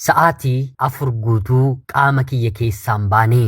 Sa'aatii afur guutuu qaama kiyya keessaa hin baane.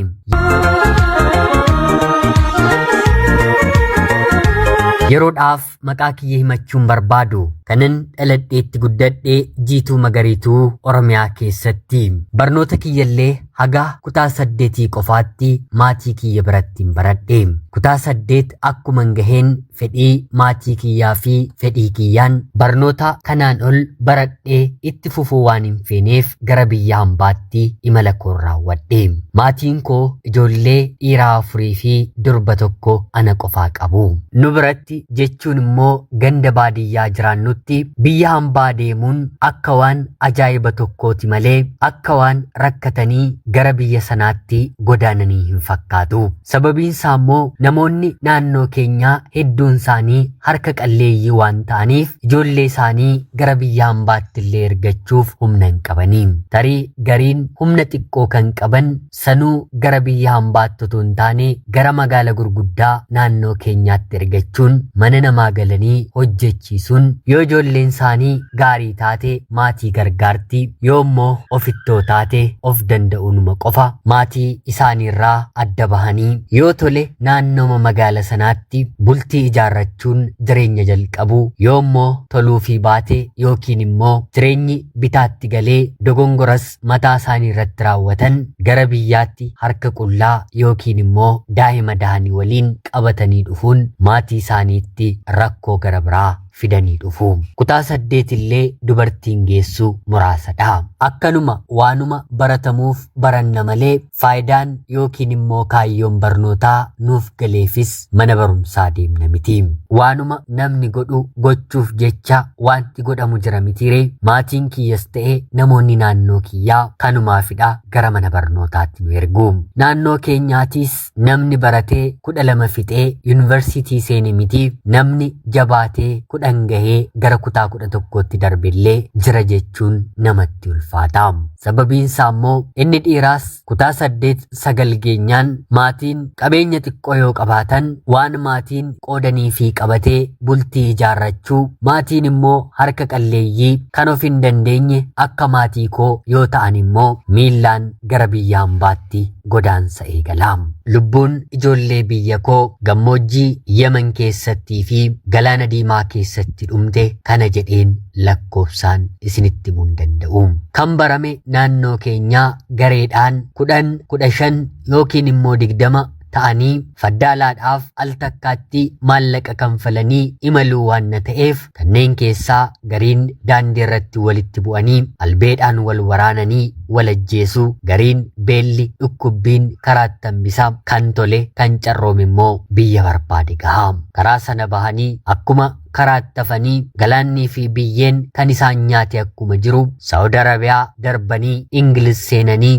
Yeroodhaaf maqaa kiyya himachuu hin barbaadu. Kanan dhaladheetti guddadhe jiituu magariituu Oromiyaa keessatti. Barnoota kiyyallee haga kutaa saddeetii qofaatti maatii kiyya biratti hin baradhe. Kutaa saddeet akkuman gaheen fedhii maatii kiyyaa fi fedhii kiyyaan barnoota kanaan ol baradhee itti fufuu waan hin feeneef gara biyya hambaatti imala koo raawwadhe. Maatiin koo ijoollee dhiiraa afurii fi durba tokko ana qofaa qabu. Nu biratti jechuun immoo ganda baadiyyaa jiraannutti biyya hambaa deemuun akka waan ajaa'iba tokkooti malee akka waan rakkatanii gara biyya sanaatti godaananii hin fakkaatu. Sababiin isaa immoo namoonni naannoo keenyaa hedduun isaanii harka qalleeyyii waan ta'aniif ijoollee isaanii gara biyya hambaatti illee ergachuuf humna hin qabanii. Tarii gariin humna xiqqoo kan qaban sanuu gara biyya hambaatti utuu hin taane gara magaala gurguddaa naannoo keenyaatti ergachuun mana namaa galanii hojjechiisuun yoo ijoolleen isaanii gaarii taate maatii gargaarti yoommoo ofittoo taate of danda'uunuma qofa maatii isaaniirraa adda bahanii yoo tole naannooma magaala sanaatti bultii ijaarrachuun jireenya jalqabu yoommoo toluufii baate yookiin immoo jireenyi bitaatti galee dogongoras mataa isaanii irratti raawwatan gara biyyaatti harka qullaa yookiin immoo daa'ima dahanii waliin qabatanii dhufuun maatii isaaniitti rakkoo gara biraa fidanii dhufu. Kutaa saddeet illee dubartiin geessu muraasadha. Akkanuma waanuma baratamuuf baranna malee faayidaan yookiin immoo kaayyoon barnootaa nuuf galeefis mana barumsaa deemna miti. Waanuma namni godhu gochuuf jecha waanti godhamu jira mitiiree maatiin kiyyas ta'e namoonni naannoo kiyyaa kanumaafidha gara mana barnootaatti nu ergu. Naannoo keenyaatiis namni baratee kudha lama fixee yuunivarsiitii seene miti namni jabaatee kudhan gahee gara kutaa kudha tokkootti darbellee jira jechuun namatti ulfaata. Sababiinsaa immoo inni dhiiraas kutaa saddeet sagal geenyaan maatiin qabeenya xiqqoo yoo qabaatan waan maatiin qoodanii fi qabatee bultii ijaarrachuu maatiin immoo harka qalleeyyii kan of hin dandeenye akka maatii koo yoo ta'an immoo miillaan gara biyya ambaatti godaansa eegala. Lubbuun ijoollee biyya koo gammoojjii Yemen keessattii fi Galaana Diimaa keessatti dhumte kana jedheen lakkoofsaan isinitti himuu hin danda'u. Kan barame naannoo keenyaa gareedhaan kudhan, kudha shan yookiin immoo digdama ta'anii faddaalaadhaaf al takkaatti maallaqa kanfalanii imaluu waanna ta'eef Kanneen keessaa gariin daandii irratti walitti bu'anii albeedhaan wal waraananii wal ajjeesu, gariin beelli, dhukkubbiin karaatti hambisa, kan tole, kan carroome immoo biyya barbaade gaha. Karaa sana bahanii akkuma karaatti hafanii galaannii fi biyyeen kan isaan nyaate akkuma jiru Saawud Arabiyaa darbanii Ingiliz seenanii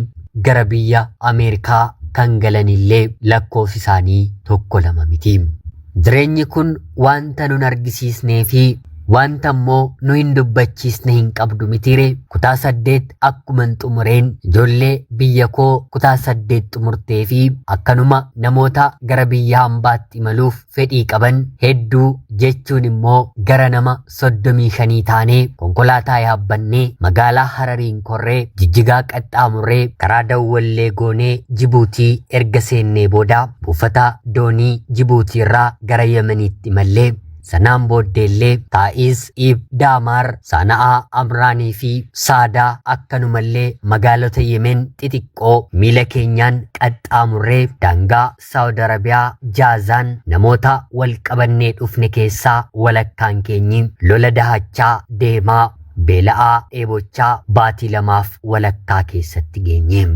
gara biyya Ameerikaa kan galanillee lakkoofsi isaanii tokko lama miti. Jireenyi kun wanta nun argisiisnee fi wanta immoo nu hin dubbachiisne hin qabdu mitiire kutaa saddeet akkuman xumureen ijoollee biyya koo kutaa saddeet xumurtee fi akkanuma namoota gara biyya hambaatti imaluuf fedhii qaban hedduu jechuun immoo gara nama soddomii shanii taanee konkolaataa yaabbannee magaalaa Harariin korree jijjigaa qaxxaamurree karaa dawwallee goonee Jibuutii erga seennee booda buufata doonii Jibuutiirraa gara Yemeniitti mallee sanaan booddeellee Taa'iis, Iib, Daamaar, Saana'aa, Amraanii fi Saadaa akkanumallee magaalota Yemen xixiqqoo miila keenyaan qaxxaamurree daangaa Saawud Arabiyaa, Jaazaan, Namoota wal qabannee dhufne keessaa walakkaan keenyi lola dahachaa, deemaa, beela'aa, dheebochaa baatii lamaaf walakkaa keessatti geenye.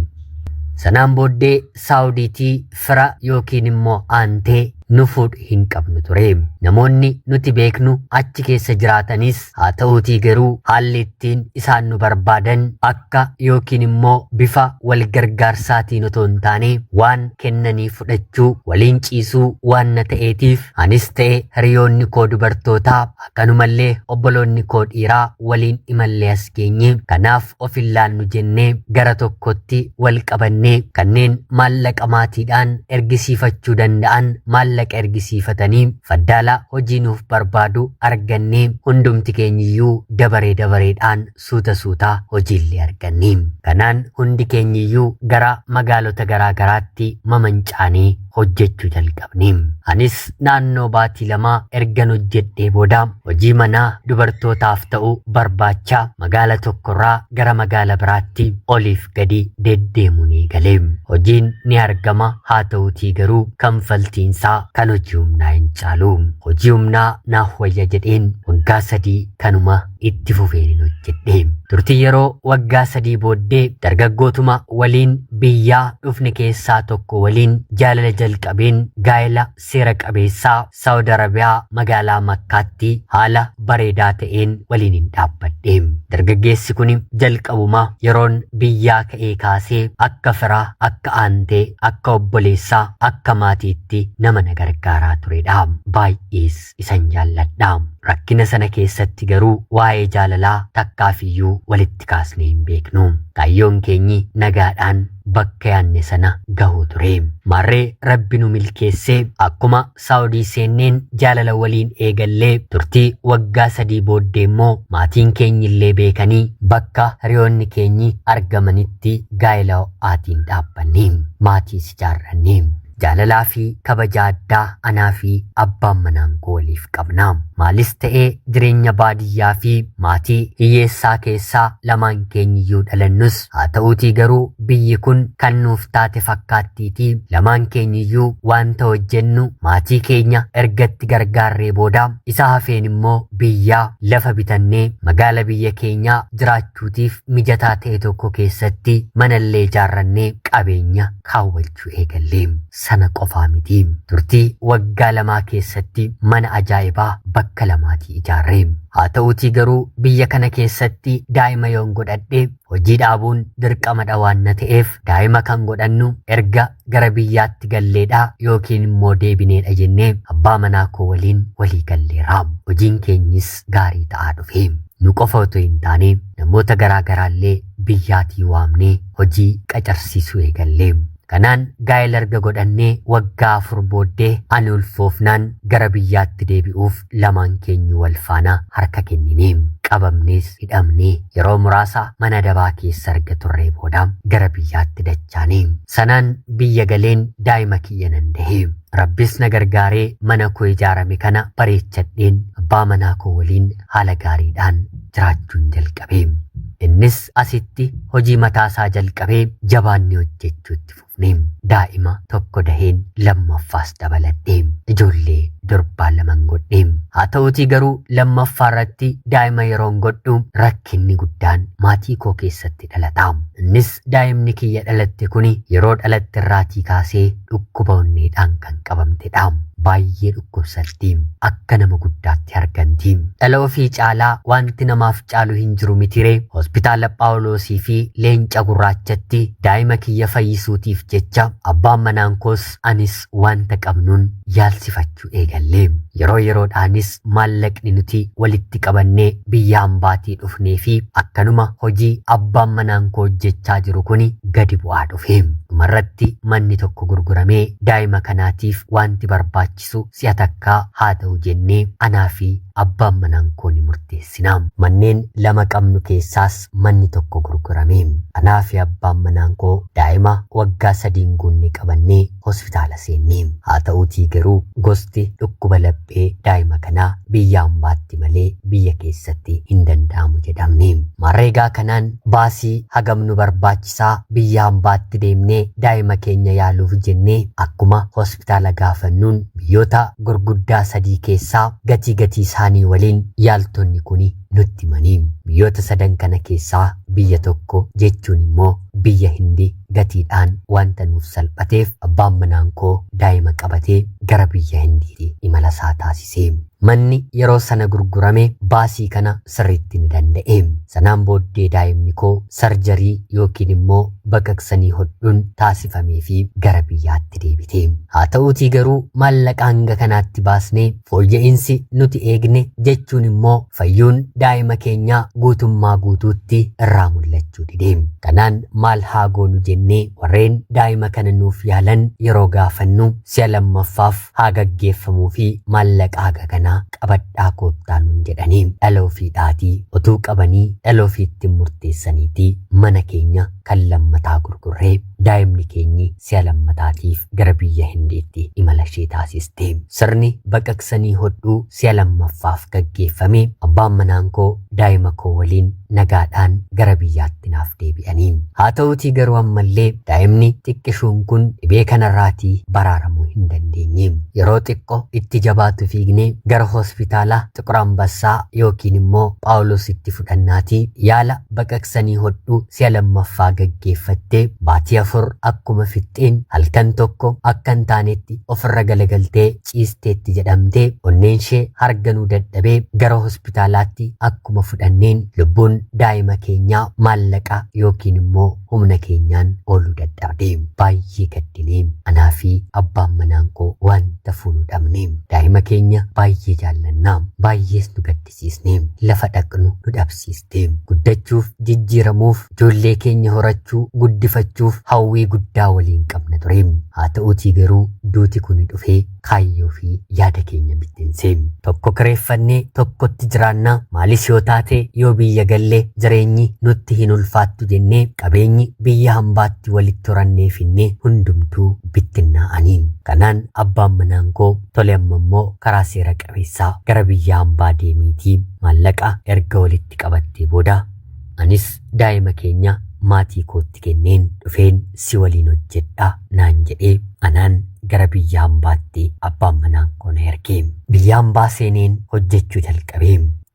Sanaan booddee Saawudiitii fira yookiin immoo aantee nu fuudhu hin qabnu ture. Namoonni nuti beeknu achi keessa jiraatanis Haa ta'uutii garuu haalli ittiin isaan nu barbaadan akka yookiin immoo bifa wal gargaarsaatiin otoo hin taane waan kennanii fudhachuu, waliin ciisuu waanna ta'eetiif anis ta'e hiriyoonni koo dubartootaa akkanumallee obboloonni koo dhiiraa waliin imallee as geenye. Kanaaf of hin laannu jennee gara tokkotti wal qabanne kanneen maallaqa maatiidhaan ergisiifachuu danda'an maallaqa ergisiifatanii faddaala hojii nuuf barbaadu arganne hundumti keenyiyyuu dabaree dabareedhaan suuta suuta hojiillee arganne kanaan hundi keenyiyyuu gara magaalota garaa garaatti mamancaanee hojjechuu jalqabne. Anis naannoo baatii lamaa ergan hojjedhee booda hojii manaa dubartootaaf ta'u barbaacha magaala tokkorraa gara magaala biraatti oliif gadi deddeemuun eegale. Hojiin ni argama haa ta'utii garuu kanfaltiinsaa kan hojii humnaa hin caalu. Hojii humnaa naaf wayya jedheen waggaa sadii kanuma itti fufeen hojjedhe. Turtii yeroo waggaa sadii booddee dargaggootuma waliin biyyaa dhufne keessaa tokko waliin jaalala jalqabeen gaa'ela seera qabeessaa Saawud Arabiyaa magaalaa Makkaatti haala bareedaa ta'een waliin hin dhaabbadhe. Dargaggeessi kun jalqabuma yeroon biyyaa ka'ee kaasee akka firaa, akka aantee, akka obboleessaa, akka maatiitti nama na gargaaraa turedha. Baay'ees isan jaalladha. Rakkina sana keessatti garuu waa'ee jaalalaa takkaafiyyuu walitti kaasnee hin beeknu. Kaayyoon keenyi nagaadhaan bakka yaanne sana gahuu ture. Maarree Rabbi nu milkeessee akkuma Saawudii seenneen jaalala waliin eegallee turtii waggaa sadii booddee immoo maatiin keenyillee beekanii bakka hiriyoonni keenyi argamanitti gaa'ela ho'aatiin dhaabbanne. Maatiis ijaarranne. Jaalalaa fi kabaja addaa anaa fi abbaan manaan koo waliif qabna. Maalis ta'ee jireenya baadiyyaa fi maatii hiyyeessaa keessa lamaan keenyiyyuu dhalannus haa ta'uutii garuu biyyi kun kan nuuf taate fakkaattiitii lamaan keenyiyyuu wanta hojjennu maatii keenya ergatti gargaarree booda isa hafeen immoo biyyaa lafa bitannee magaala biyya keenyaa jiraachuutiif mijataa ta'e tokko keessatti manallee ijaarrannee qabeenya kaawwachuu hojjechuu eegalle. Sana qofaa miti. Turtii waggaa lamaa keessatti mana ajaa'ibaa bakka lamaatii ijaarre. Haa ta'uutii garuu biyya kana keessatti daa'ima yoon godhadhe hojii dhaabuun dirqamadha waan na ta'eef daa'ima kan godhannu erga gara biyyaatti galleedha yookiin immoo deebineedha jennee abbaa manaa koo waliin walii galleera. Hojiin keenyis gaarii ta'aa dhufe. Nu qofa otoo hin taane namoota garaa garaallee biyyaatii waamnee hojii qacarsiisuu eegalle. Kanaan gaa'ela erga godhannee waggaa afur booddee ani ulfoofnaan gara biyyaatti deebi'uuf lamaan keenyu wal faana harka kennine. Qabamnees hidhamne. Yeroo muraasa mana dabaa keessa erga turree booda gara biyyaatti dachaane. Sanaan biyya galeen daa'ima kiyya nan dahe. Rabbis na gargaaree mana koo ijaarame kana bareechadheen abbaa manaa koo waliin haala gaariidhaan jiraachuun jalqabe. Innis asitti hojii mataa isaa jalqabee jabaannee hojjechuutti fufne. Daa'ima tokko daheen lammaffaas dabaladhe. Ijoollee durbaa laman godhe. Haa ta'uutii garuu lammaffaa irratti daa'ima yeroon godhu rakkinni guddaan maatii koo keessatti dhalata. Innis Daa'imni kiyya dhalatte kuni yeroo dhalatte irraatii kaasee dhukkuba onneedhaan kan qabamtedha. Baay'ee dhukkubsatti. Akka nama guddaatti harganti. Dhala ofii caalaa wanti namaaf caalu hin jiru mitiree? Hospitaala Phaawuloosii fi Leenca Gurraachatti daa'ima kiyya fayyisuutiif jecha abbaan manaan koos anis wanta qabnuun yaalsifachuu eegalle. Yeroo yeroodhaanis maallaqni nuti walitti qabannee biyya hambaatii dhufnee fi akkanuma hojii abbaan manaan koo hojjechaa jiru kuni gadi bu'aa dhufe. Dhumarratti manni tokko gurguramee daa'ima kanaatiif wanti barbaachisu si'a takkaa haa ta'u jennee anaa fi abbaan manaan koo ni murteessina. Manneen lama qabnu keessaas keessatti manni tokko gurgurame. Anaa fi abbaan manaan koo daa'ima waggaa sadii hin guunne qabannee hospitaala seenne. Haa ta'uutii garuu gosti dhukkuba laphee daa'ima kanaa biyya ambaatti malee biyya keessatti hin danda'amu jedhamne. Maarreegaa kanaan baasii hagam nu barbaachisaa biyya ambaatti deemnee daa'ima keenya yaaluuf jennee akkuma hospitaala gaafannuun biyyoota gurguddaa sadii keessaa gatii gatii isaanii waliin yaaltonni kuni nutti himani. Biyyoota sadan kana keessaa biyya tokko jechuun immoo biyya Hindi gatiidhaan wanta nuuf salphateef abbaan manaan koo daa'ima qabatee gara biyya Hindiiti imala isaa taasise. Manni yeroo sana gurgurame baasii kana sirriitti ni danda'e. Sanaan booddee daa'imni koo sarjarii yookiin immoo baqaqsanii hodhuun taasifamee fi gara biyyaatti deebite. Haa ta'uutii garuu maallaqa hanga kanaatti baasnee Fooyya'insi nuti eegne jechuun immoo fayyuun daa'ima keenyaa guutummaa guutuutti irraa mul'achuu dide. Kanaan maal haa goonu jennee warreen daa'ima kana nuuf yaalan yeroo gaafannu si'a lammaffaaf haa gaggeeffamuufi maallaqa haga kanaa qabadhaa koottaa nuun jedhani. Dhala ofiidhaatii otuu qabanii dhala ofiitti murteessaniiti mana keenya kan lammataa gurgurre. daa'imni keenyi si'a lammataatiif gara biyya Hindiitti imala ishee taasiste. Sirni baqaqsanii hodhuu si'a lammaffaaf gaggeeffame. Abbaan manaan koo daa'ima koo waliin nagaadhaan gara biyyaatti naaf deebi'anii. Haa ta'uutii garuu ammallee daa'imni xiqqishuun kun dhibee kanarraatii baraaramuu hin dandeenye. Yeroo xiqqo itti jabaatu fiignee gara hospitaala Xiqur Ambassaa yookiin immoo Phaawulositti fudhannaatii yaala baqaqsanii hodhuu si'a lammaffaa gaggeeffatte baatii afur akkuma fixxeen halkan tokko akka hin taanetti ofirra galagaltee ciisteetti jedhamte onneenshee harganuu dadhabee gara hospitaalaatti akkuma fudhanneen lubbuun daa'ima keenyaa maallaqa yookiin immoo humna keenyaan ooluu dadhabde baay'ee gaddinee anaa fi abbaan manaan koo wanta fuunu dhabne daa'ima keenya baay'ee jaallannaa baay'ees nu gaddise dhabsiisne lafa dhaqnu nu dhabsiiste guddachuuf jijjiiramuuf ijoollee keenya horachuu guddifachuuf hawwii guddaa waliin qabna ture haa ta'uutii garuu duuti kun dhufee kaayyoo fi yaada keenya bittinse tokko kireeffannee tokkotti jiraanna maalis yoo taate yoo biyya galle jireenyi nutti hin ulfaattu jennee qabeenyi biyya hambaatti walitti horannee finne hundumtuu bittinnaa'anii kanaan abbaan manaan koo tole amma immoo karaa seera Kaleessa gara biyya ambaa deemiitii maallaqa erga walitti qabattee booda anis daa'ima keenya maatii kootti kenneen dhufeen si waliin hojjedha naan jedhee anaan gara biyya ambaatti abbaan manaan koo na erge. Biyya ambaa seeneen hojjechuu jalqabe.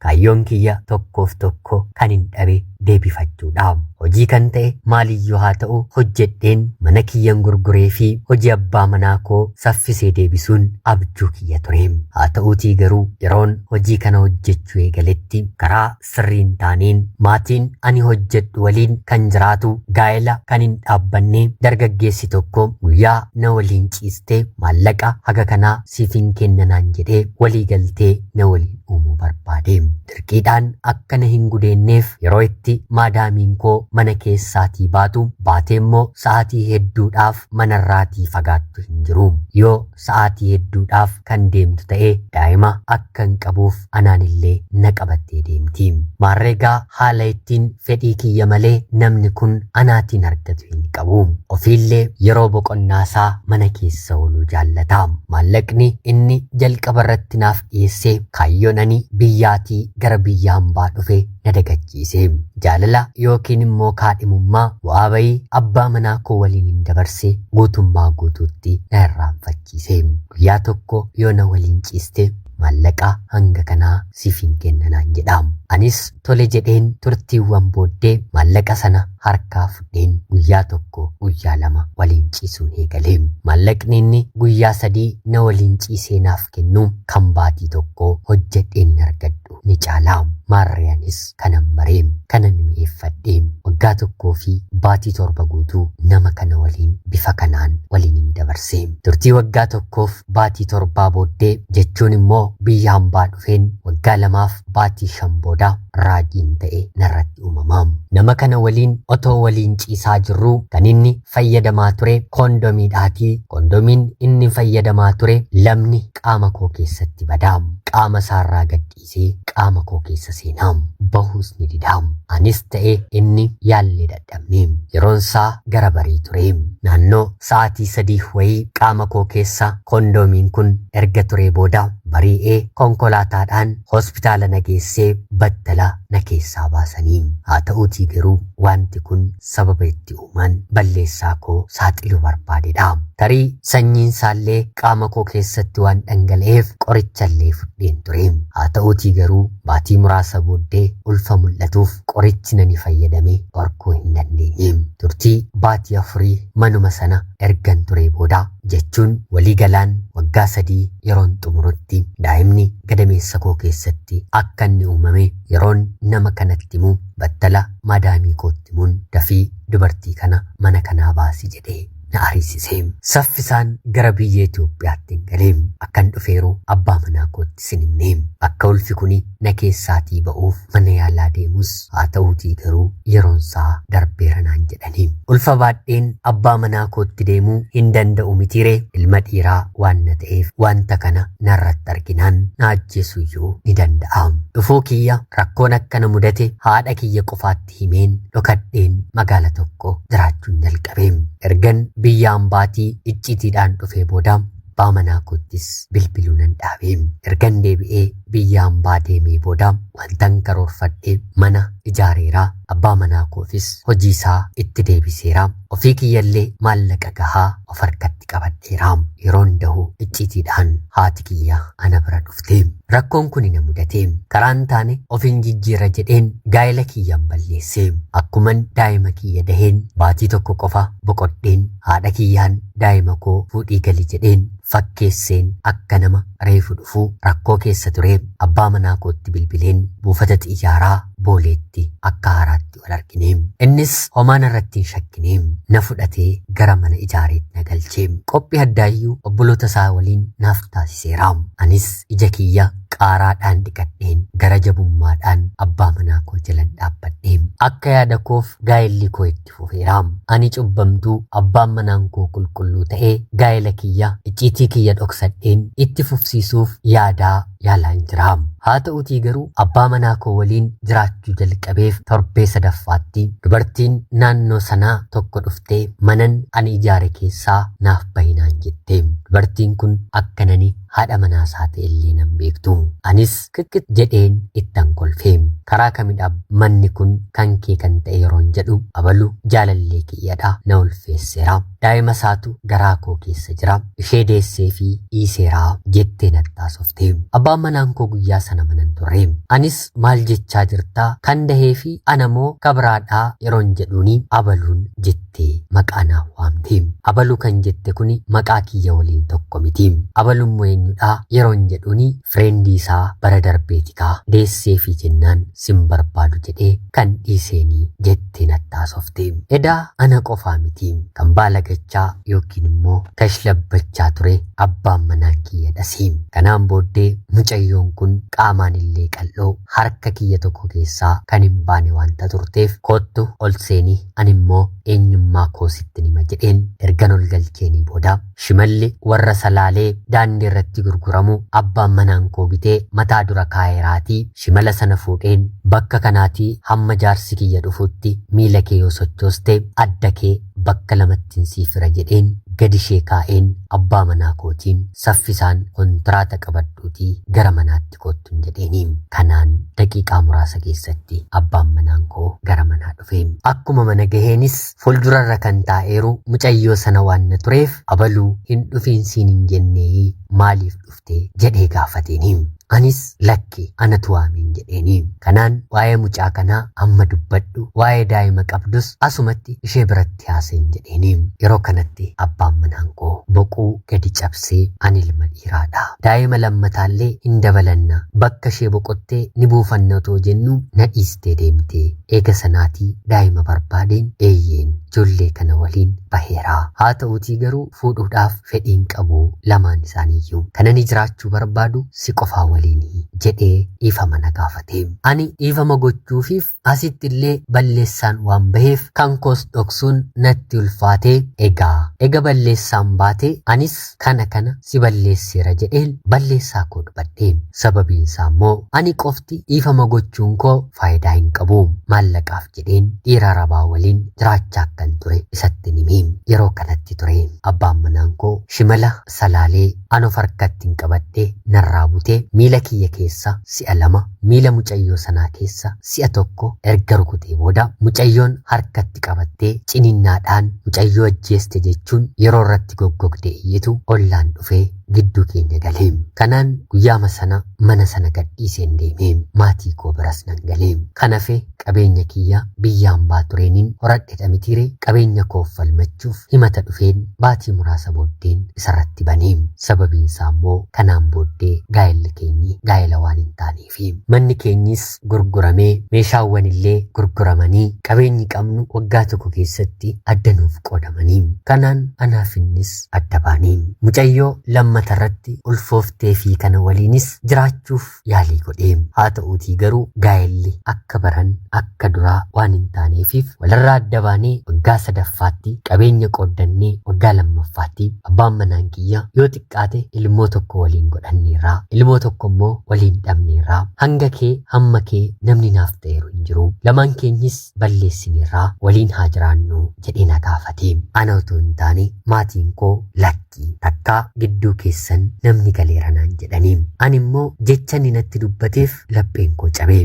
Kaayyoon kiyya tokkoof tokko kanin dhabe deebifachuudha. Hojii kan ta'e maaliyyuu haa ta'u hojjedheen mana kiyyan gurguree fi hojii abbaa manaa koo saffisee deebisuun abjuu kiyya ture. Haa ta'uutii garuu yeroon hojii kana hojjechuu eegaletti karaa sirriin taaneen maatiin ani hojjedhu waliin kan jiraatu gaa'ela kan hin dhaabbanne dargaggeessi tokko guyyaa na waliin ciistee maallaqa haga kanaa siif hin kennanaan jedhee walii galtee na waliin uumuu barbaade. Dirqiidhaan akka na hin gudeenneef yeroo itti maadaamiin koo mana keessaatii baatu, baatee immoo sa'aatii hedduudhaaf manarraatii fagaattu hin jiru. Yoo sa'aatii hedduudhaaf kan deemtu ta'e daa'ima akkan qabuuf anaanillee na qabattee deemti. Maarreegaa haala ittiin Fedhii kiyya malee namni kun anaatiin argatu hin qabu. Ofiillee yeroo boqonnaasaa mana keessa ooluu jaallata. Maallaqni inni jalqabarratti naaf dhiyeesse kaayyoon ani biyyaatii gara biyya hambaa dhufe na dagachiise. Jaalala yookiin immoo kaadhimummaa bu'aa bayii abbaa manaa koo waliinin dabarse guutummaa guutuutti na irraanfachiise. Guyyaa tokko yoo na waliin ciiste. maallaqa hanga kanaa siif hin kenna naan jedha. Anis tole jedheen turtiiwwan booddee maallaqa sana harkaa fudheen guyyaa tokko guyyaa lama waliin ciisuun eegale. Maallaqni inni guyyaa sadii na waliin ciisee naaf kennu kan baatii tokkoo hojjedheen argadhu ni caala. Maarree anis kanan bare, kanan mi'eeffadhe, waggaa tokkoo fi baatii torba guutuu nama kana waliin bifa kanaan waliinin dabarse. Turtii waggaa tokkoof baatii torbaa booddee jechuun immoo biyya hambaa dhufeen waggaa lamaaf baatii shan booda raajiin ta'e narratti uumama. Nama kana waliin otoo waliin ciisaa jirruu kan inni fayyadamaa ture koondomiidhaatii koondomiin inni fayyadamaa ture lamni qaama koo keessatti bada. Qaama isaarraa gad dhiisee qaama koo keessa seenaa. Bahuus ni didaa. Anis ta'e inni yaallee dadhabne. Yeroon isaa gara barii ture. Naannoo sa'aatii sadii wayii qaama koo keessa koondoomiin kun erga turee booda barii'ee konkolaataadhaan hospitaala na geessee battala na keessaa baasanii. Haa ta'uutii garuu wanti kun sababa itti uumaan balleessaa koo saaxiluu barbaadedha. Tarii sanyiinsaallee qaama koo keessatti waan dhangala'eef qorichallee fudheen ture. Haa ta'uutii garuu baatii muraasa booddee ulfa mul'atuuf qorichi nani fayyadame dhorkuu hin dandeenye. Turtii baatii afurii manuma sana ergan turee booda jechuun walii galaan waggaa sadii yeroon xumurutti daa'imni gadameessa koo keessatti akka inni uumame yeroon nama kanatti himu battala maadaamii kootti himuun dafii dubartii kana mana kanaa baasi jedhee na ariisise. Saffisaan gara biyya Itoophiyaattin gale. Akkan dhufeeru abbaa manaa kootti sin himne. Akka ulfi kuni na keessaatii ba'uuf mana yaalaa deemus haa ta'uutii garuu yeroonsaa darbeera naan jedhani. Ulfa baadheen abbaa manaa kootti deemuu hin danda'u mitiiree ilma dhiiraa waan na ta'eef wanta kana narratti arginaan na ajjeesuyyuu ni danda'a. Dhufuu kiyya Rakkoon akka na mudate haadha kiyya qofaatti himeen dhokadheen magaala tokko jiraachuun jalqabe. Ergan biyya ambaatii icciitiidhaan dhufee booda abbaa manaa koottis bilbiluu nan dhaabe. Ergan deebi'ee biyya ambaa deemee booda wantan karoorfadhe mana ijaareera. Abbaa manaa koofis hojii isaa itti deebiseera. Ofii kiyyallee maallaqa gahaa of harkatti qabadheera. Yeroon dahu icciitiidhaan haati kiyya ana bira dhufte. Rakkoon kuni na mudate. Karaan taane ofin jijjiira jedheen gaa'ela kiyyan balleesse. Akkuman daa'ima kiyya daheen baatii tokko qofa boqodheen haadha kiyyaan daa'ima koo fuudhii gali jedheen fakkeesseen akka nama reefu dhufu rakkoo keessa ture abbaa manaa kootti bilbileen buufata xiyyaaraa booleetti akka haaraatti wal argine. Innis homaa narratti hin shakkine. Na fudhatee gara mana ijaareetti na galche. Qophii addaayyuu obboloota isaa waliin naaf taasiseera. Anis ija kiyya qaaraadhaan dhiqadheen gara jabummaadhaan abbaa manaa koo jalan dhaabbadhe. Akka yaada koof gaa'elli koo itti fufeera. Ani cubbamtuu abbaan manaan koo qulqulluu ta'e gaa'ela kiyya icciitii kiyya dhoksadheen itti fufsiisuuf yaadaa yaalaan jira. Haa ta'utii garuu abbaa manaa koo waliin jiraachuu jalqabeef torbee sadaffaatti dubartiin naannoo sanaa tokko dhuftee manan ani ijaare keessaa naaf bahi naan jette. Dubartiin kun akkan ani haadha manaa isaa ta'e illee nan beektu. Anis qiqqit jedheen ittan kolfe. Karaa kamidha manni kun kan kee kan ta'e yeroon jedhu abalu jaalallee kiyyadha na ulfeesseera. Daa'ima isaatu garaa koo keessa jira. Ishee deessee fi dhiiseera jettee natti haasofte. Abbaan manaan koo guyyaa sana mana hin turre. Anis maal jechaa jirta kan dahee fi ana moo kabiraadhaa yeroon jedhuuni abaluun jettee maqaa naa waamte. Abaluu kan jette kuni maqaa kiyya waliin tokko miti. Abaluun moo eenyudhaa yeroon jedhuuni fireendii isaa bara darbeeti kaa deessee fi jennaan sin barbaadu jedhee kan dhiiseeni jettee natti haasofte. Edaa ana qofaa miti kan baalagachaa yookiin immoo kashlabbachaa ture abbaan manaan kiyyadhasi. Kanaan booddee mucayyoon kun qaamaan illee qal'oo harka kiyya tokko keessaa kan hin baane wanta turteef kottu ol seeni ani immoo eenyummaa koo sittin hima jedheen ergan ol galcheenii booda Shimalli warra Salaalee daandii irratti gurguramu abbaan manaan koo bitee mataa dura kaa'eeraatii shimala sana fuudheen bakka kanaatii hamma jaarsi kiyya dhufutti miila kee yoo sochooste adda kee bakka lamattin sii fira jedheen gadi ishee kaa'een abbaa manaa kootiin saffisaan kontiraata qabadhuutii gara manaatti koottun jedheeni. Kanaan daqiiqaa muraasa keessatti abbaan manaan koo gara manaa dhufe. Akkuma mana gaheenis Fuldurarra kan taa'eeru mucayyoo sana waanna tureef abaluu hin dhufiin siin hin jenneeyii maaliif dhufte jedhee gaafateeni. Anis lakki anatu waameen jedheeni. Kanaan waa'ee mucaa kanaa amma dubbadhu waa'ee daa'ima qabdus asumatti ishee biratti haasa'iin jedheeni. Yeroo kanatti abbaan manaan koo boquu gadi cabsee ani ilma dhiiraadha. Daa'ima lammataallee hin dabalanna bakka ishee boqottee ni buufanna otoo jennuu na dhiistee deemte. Eega sanaatii daa'ima barbaadeen eeyyeen ijoollee kana waliin baheera. Haa ta'uutii garuu fuudhuudhaaf fedhii hin qabu lamaan isaaniiyyuu. Kan ani jiraachuu barbaadu si qofaa waliini, jedhee dhiifama na gaafate. Ani dhiifama gochuufiif asitti illee balleessaan waan baheef kan koos dhoksuun natti ulfaatee egaa. Ega balleessaan baate anis kana kana si balleesseera jedheen balleessaa koo dubadhe. Sababiin isaa immoo ani qofti dhiifama gochuun koo faayidaa hin qabu. Maallaqaaf jedheen dhiira Arabaa waliin jiraachaa akkan ture isattin hime. Yeroo kanatti ture abbaan manaan koo shimala salaalee an of harkattin qabadhe narraa bute miila kiyya keessa si'a lama miila mucayyoo sanaa keessa si'a tokko erga rukutee booda mucayyoon harkatti qabattee ciniinnaadhaan mucayyoo ajjeeste jechuun yeroo irratti goggogdee iyyitu ollaan dhufee gidduu keenya gale. Kanaan guyyaama sana mana sana gadhiiseen deeme. Maatii koo biras nan gale. Kan hafe qabeenya kiyya biyya ambaa tureeniin horadhedha mitiire qabeenya koof falmachuuf himata dhufeen baatii muraasa booddeen isarratti bane sababiinsaa immoo kanaan booddee gaa'elli keenyi gaa'ela waan hin taaneefi manni keenyis gurguramee meeshaawwan illee gurguramanii qabeenyi qabnu waggaa tokko keessatti adda nuuf qoodamanii kanaan anaaf innis adda baane mucayyoo lammata irratti ulfooftee fi kana waliinis jiraachuuf yaalii godhe. Haa ta'uutii garuu gaa'elli akka baran akka duraa waan hin taaneefiif walirraa adda baanee waggaa sadaffaatti qabeenya qooddannee waggaa lammaffaatti abbaan manaan kiyya yoo xiqqaate ilmoo tokko waliin godhanneerra. Ilmoo tokko immoo waliin dhabneerra. Hanga kee hamma kee namni naaf ta'eeru hin jiru. Lamaan keenyis balleessineerra waliin haa jiraannu jedhee na gaafate. Ana utuu hin taane maatiin koo lakki. Lakkii, takkaa gidduu keessan namni galeera naan jedhani. Ani immoo jecha inni natti dubbateef lapheen koo cabe.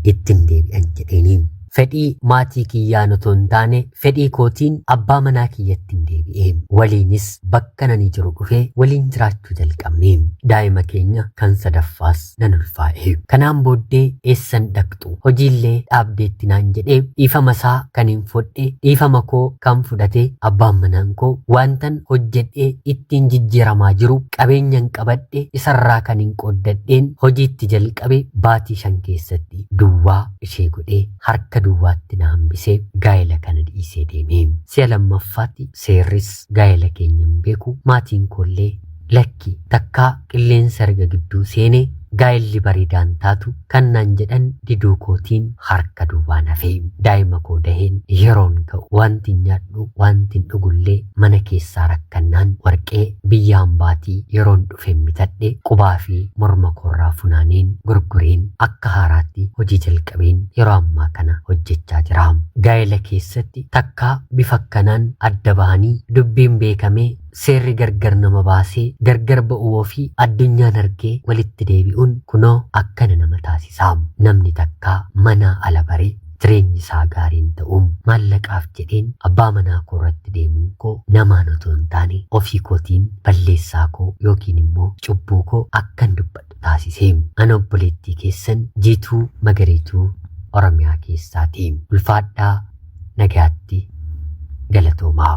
Ittin deebi'an jedheeni. Fedhii maatii kiyyaan otoo hin taane fedhii kootiin abbaa manaa kiyyattin deebi'e. Waliinis bakka nani jiru dhufee waliin jiraachuu jalqabne. Daa'ima keenya kan sadaffaas nan ulfaa'e. Kanaan booddee eessan dhaqxu jirtu hojiillee dhaabdeetti naan jedhe dhiifama isaa kanin fodhe dhiifama koo kan fudhate abbaan manaan koo waantan hojjedhee ittiin jijjiiramaa jiru qabeenyan qabadhe isarraa kanin qooddadheen hojiitti jalqabe baatii shan keessatti duwwaa ishee godhee harka duwwaatti na hambisee gaa'ela kana dhiisee deeme si'a lammaffaatti seerris gaa'ela keenya hin beeku maatiin koollee lakki takkaa qilleensa erga gidduu seene gaa'elli bareedaan taatu Kan naan jedhan diduu kootiin harka duwwaan hafe. Daa'ima koo daheen yeroon ka'u waantin nyaadhu, waantin dhugullee mana keessaa rakkannaan warqee biyya hambaatii yeroon dhufeen bitadhe qubaa fi morma koorraa funaaneen gurgureen akka haaraatti hojii jalqabeen yeroo ammaa kana hojjechaa jira. Gaa'ela keessatti takkaa bifa akkanaan adda bahanii dubbiin beekamee Seerri gargar nama baasee gargar ba'uu ofii addunyaan argee walitti deebi'uun kunoo akkana nama taasisa. Namni takka manaa ala bare jireenyi isaa gaarii hin ta'u. Maallaqaaf jedheen abbaa manaa koo irratti deemuun koo namaan otoo hin taane ofii kootiin balleessaa koo yookiin immoo cubbuu koo akkan dubbadhu taasise. Ana obboleettii keessan Jiituu Magariituu Oromiyaa keessaati. Ulfaadhaa! nagaatti galatoomaa.